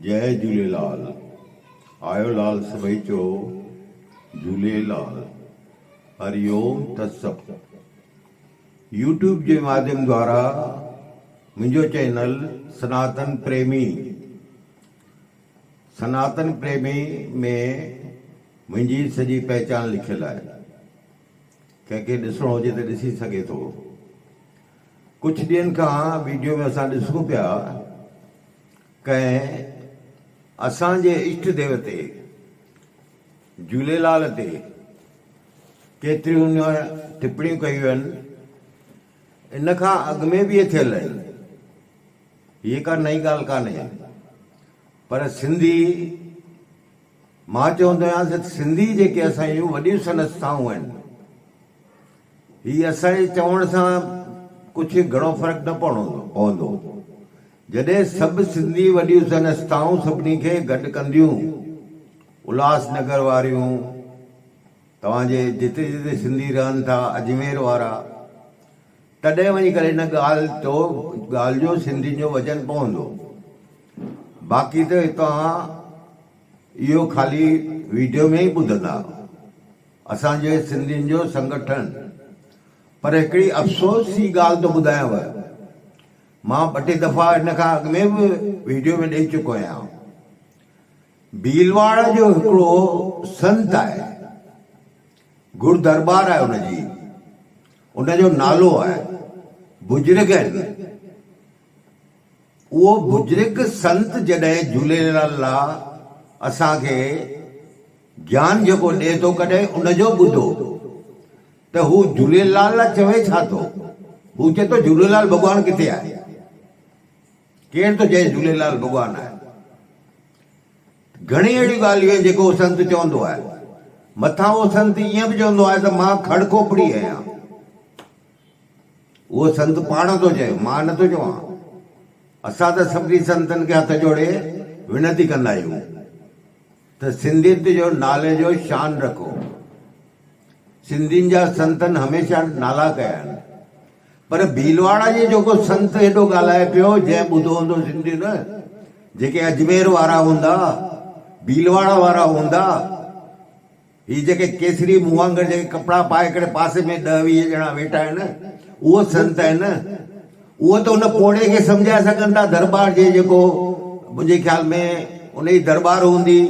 جئي جهوليلال آيو لال سڀئي چئو جهوليلال هري اوم ٿس سڀ يوٽيوب جي ماڌيم دوارا منهنجو چينل سناتن پريمي سناتن پريمي ۾ منهنجي سڄي پهچان لکيل آهي ڪنهن کي ڏسڻو هجي ته ڏسي سگهي ٿو ڪجهه ڏينهن کان ويڊيو ۾ اسان ڏسون پيا ڪنهن اسان جي اشٽ ديوتي جهوليلال تي ڪيتريون نه ٽپڻيون ڪيون آهن ان کان اڳ ۾ به اهي ٿيل آهن هيء ڪا نئين ڳالهه ڪانهي پر سنڌي مان چوندو آهيان ته سنڌي جيڪي اسان جون وڏيون صنعتسائون آهن، هي اسان جي چوڻ سان ڪجهه گهڻو فرق نه پوندو. جڏهن سڀ سنڌي وڏيون صنعتسائون سڀني کي گڏ ڪنديون، الهاس نگر واريون، توهان جي جتي جتي سنڌي رهن ٿا، اجمير وارا، تڏهن وڃي ڪري هن ڳالهه جو ڳالهه جو سنڌين جو وزن پوندو باقي ته توهان اهو خالي ويڊيو ۾ ئي ٻڌندا اسان جي سنڌين جو سنگٺن پر هڪڙي افسوس جي ڳالهه ٿو ٻڌايانو مان ٻه ٽي دفعا هن کان اڳ ۾ به ويڊيو ۾ ڏئي چڪو آهيان ڀيلواڙ جو هڪڙو سنت آهي گهڙ درٻار آهي ان جي. ان جو نالو آهي بزرگ آهن اهو بزرگ سنت جڏهن جهوليلال لا اسان کي گيان جيڪو ڏي ٿو ڪڏهن ان جو ٻڌو ته هو جهوليلال لا چوي ڇا ٿو هو چئي ٿو جهوليلال ڀڳوان ڪٿي آهي ڪير ٿو چئي جهوليلال ڀڳوان آهي گهڻيون اهڙيون ڳالهيون آهن جيڪي اهو سنت چوندو آهي. مٿان اهو سنت ائين به چوندو آهي ته مان کڙ کوپڙي آهيان. اهو سنت پاڻ ٿو چئي، مان نه ٿو چوان. اسان ته سڀني سنتن کي هٿ جوڙي وينتي ڪندا آهيون ته سنڌيت جو نالي جو شان رکو. سنڌين جا سنتن هميشه نالا ڪيا آهن پر ڀيلواڙا جي جيڪو سنت هيڏو ڳالهائي پيو جنهن ٻڌو هوندو سنڌين جيڪي اجمير وارا هوندا ڀيلواڙا وارا هوندا هي جيڪي ڪيسري مون وانگر جيڪي ڪپڙا پائي ڪري پاسي ۾ ڏهه ويهه ڄڻا ويٺا آهن اهو سنت آهن اهو ته ان پوڙهي کي سمجهائي سگهن ٿا درٻار جي جيڪو منهنجي خيال ۾ ان جي درٻار هوندي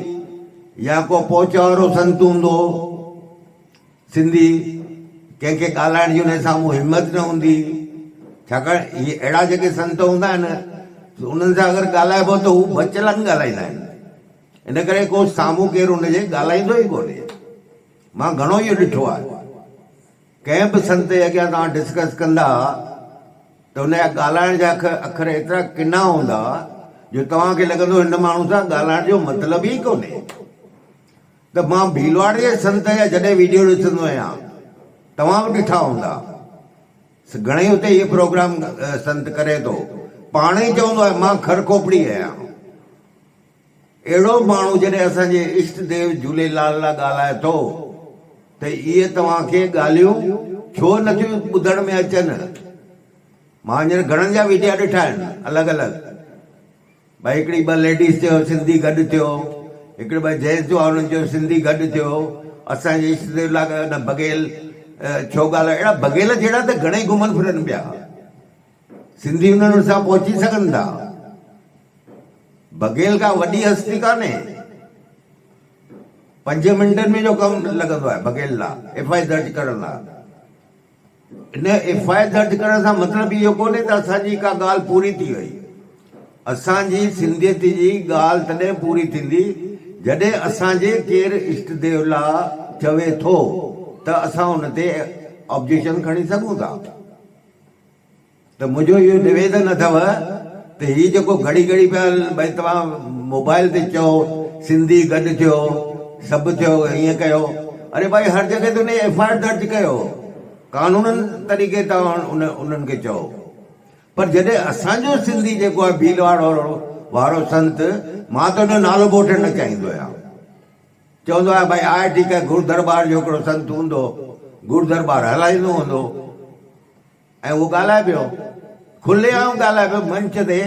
يا ڪو پهچ وارو سنت هوندو سنڌي ڪنهن کي ڳالهائڻ جي ان جي سامهون همت نه هوندي ڇاڪاڻ هي اهڙا جيڪي سنت هوندا آهن انهن سان اگر ڳالهائبو ته هو بچلن ڳالهائيندا آهن ان ڪري ڪو سامهون ڪير ان جي ڳالهائيندو ئي ڪونهي مان گهڻو اهو ڏٺو آهي ڪنهن به سنتي اڳيان توهان ڊسڪس ڪندا ته هن جا ڳالهائڻ جا اکر ايترا ڪنا هوندا جو توهان کي لڳندو هن ماڻهو سان ڳالهائڻ جو مطلب ئي ڪونهي ته مان ڀيلواڙ جي سنت جا جڏهن ويڊيو ڏسندو آهيان توهان به ڏٺا هوندا گهڻئي اتي هي پروگرام سنت ڪري ٿو پاڻ ئي چوندو آهي مان کر کوپڙي آهيان. اهڙو ماڻهو جڏهن اسان جي اشٽ ديو جهوليلال لا ڳالهائي ٿو ته اهي توهان کي ڳالهيون ڇو نٿيون ٻڌڻ ۾ اچن؟ مان هينئر گهڻن جا ويڊيا ڏٺا آهن الڳ الڳ ڀاء هڪڙي ٻه ليڊيز چيو سنڌي گڏ ٿيو هڪڙي ٻه جينٽس هئا انهن چيو سنڌي گڏ ٿيو اسان جي اشٽ ديو لا نه بگهيل ڇو ڳالهائي اهڙا بگهيل جهڙا ته گهڻي گهمن ڦرن پيا. سنڌي انهن وٽ ڇا پهچي سگهن ٿا؟ بگهيل ڪا وڏي هستي ڪانهي. پنجين منٽن ۾ جو ڪم لڳندو آهي بگهيل لا ايف آء درج ڪرڻ لا. ان ايف آء درج ڪرڻ سان مطلب اهو ڪونهي ته اسان جي ڪا ڳالهه پوري ٿي وئي. اسان جي سنڌيت جي ڳالهه تڏهن پوري ٿيندي جڏهن اسان جي ڪير اشٽ ديو لا چوي ٿو ته اسان ان تي آبجيڪشن کڻي سگهون ٿا. ته منهنجو اهو نويدن اٿو ته هي جيڪو گهڙي گهڙي پيا ڀاء توهان موبائل تي چئو سنڌي گڏ ٿيو سڀ ٿيو ائين ڪيو اري ڀاء هر جڳهه تي انهي ايف آء آر درج ڪيو قانونن طريقي تان انهن کي چئو پر جڏهن اسان جو سنڌي جيڪو آهي ڀيلواڙو وارو سنت مان ته انهو نالو به وٺڻ نه چاهيندو آهيان چوندو آهي ڀائي آء ٺيڪ آهي گرو درٻار جو هڪڙو سنت هوندو گرو درٻار هلائيندو هوندو ۽ اهو ڳالهائي پيو کلي عام ڳالهائي پيو منچ تي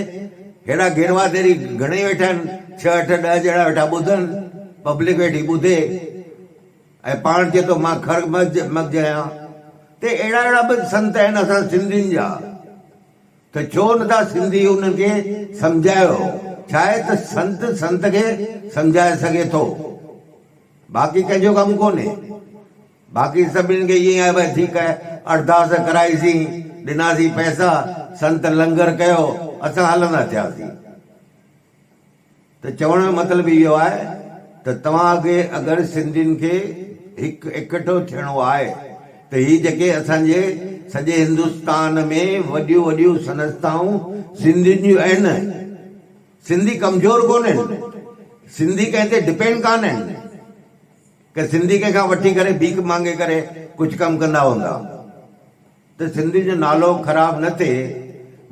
هيڏا گيروا ديري گهڻي ويٺا آهن ڇهه اٺ ڏهه ڄڻا ويٺا ٻڌن پبلڪ ويٺي ٻڌي ۽ پاڻ چئي ٿو مان خر مغز مغز آهيان ته اهڙا اهڙا به سنت آهن اسان سنڌين جا ته ڇو نه ٿا سنڌي انهن کي سمجهايو ڇاهي ته سنت سنت کي سمجهائي سگهي ٿو باقي ڪنهن جو ڪم ڪونهي باقي سڀني کي ائين آهي ڀائي ٺيڪ آهي اڙداس ڪرائي سين ڏناسين پئسا سنت لنگر ڪيو اسان هلندا ٿياسين. ته چوڻ جو مطلب اهو آهي ته توهان اڳي اگر سنڌين کي هڪ اڪٺو ٿيڻو آهي ته هي جيڪي اسان جي سڄي هندستان ۾ وڏيون وڏيون سنستائون سنڌين جون اهن سنڌي ڪمزور ڪونهن سنڌي ڪنهن تي ڊپينڊ ڪانهن ڪه سنڌي ڪنهن کان وٺي ڪري ڀيڪ مانگي ڪري ڪجهه ڪم ڪندا هوندا. ته سنڌي جو نالو خراب نه ٿئي،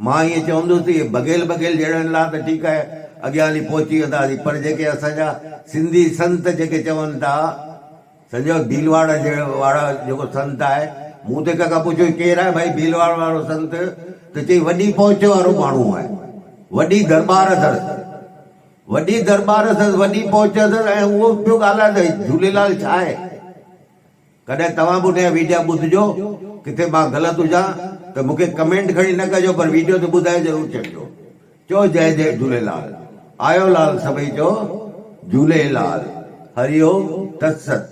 مان ائين چوندس ته اهي بگهيل بگهيل جهڙن لا ته ٺيڪ آهي اڳيان هلي پهچي وينداسين پر جيڪي اسان جا سنڌي سنت جيڪي چون ٿا سمجهيو ڀيلواڙ وارا جيڪو سنت آهي مون ته هڪ کان پڇيو هي ڪير آهي ڀائي ڀيلواڙ وارو سنت ته چئي وڏي پهچ وارو ماڻهو آهي وڏي درٻار اٿس وڏي درٻار اٿس وڏي پهچ اٿس ۽ اهو پيو ڳالهائي ته جهوليلال ڇا آهي؟ ڪڏهن توهان به ان جا ويڊيا ٻڌجو، ڪٿي مان غلط هجان ته مون کي ڪمينٽ کڻي نه ڪجو پر ويڊيو تي ٻڌائي ضرور ڇڏجو. چئو جئ جئ جهوليلال. آيو لال سڀئي چئو جهولي لال. هري اوم تت ست.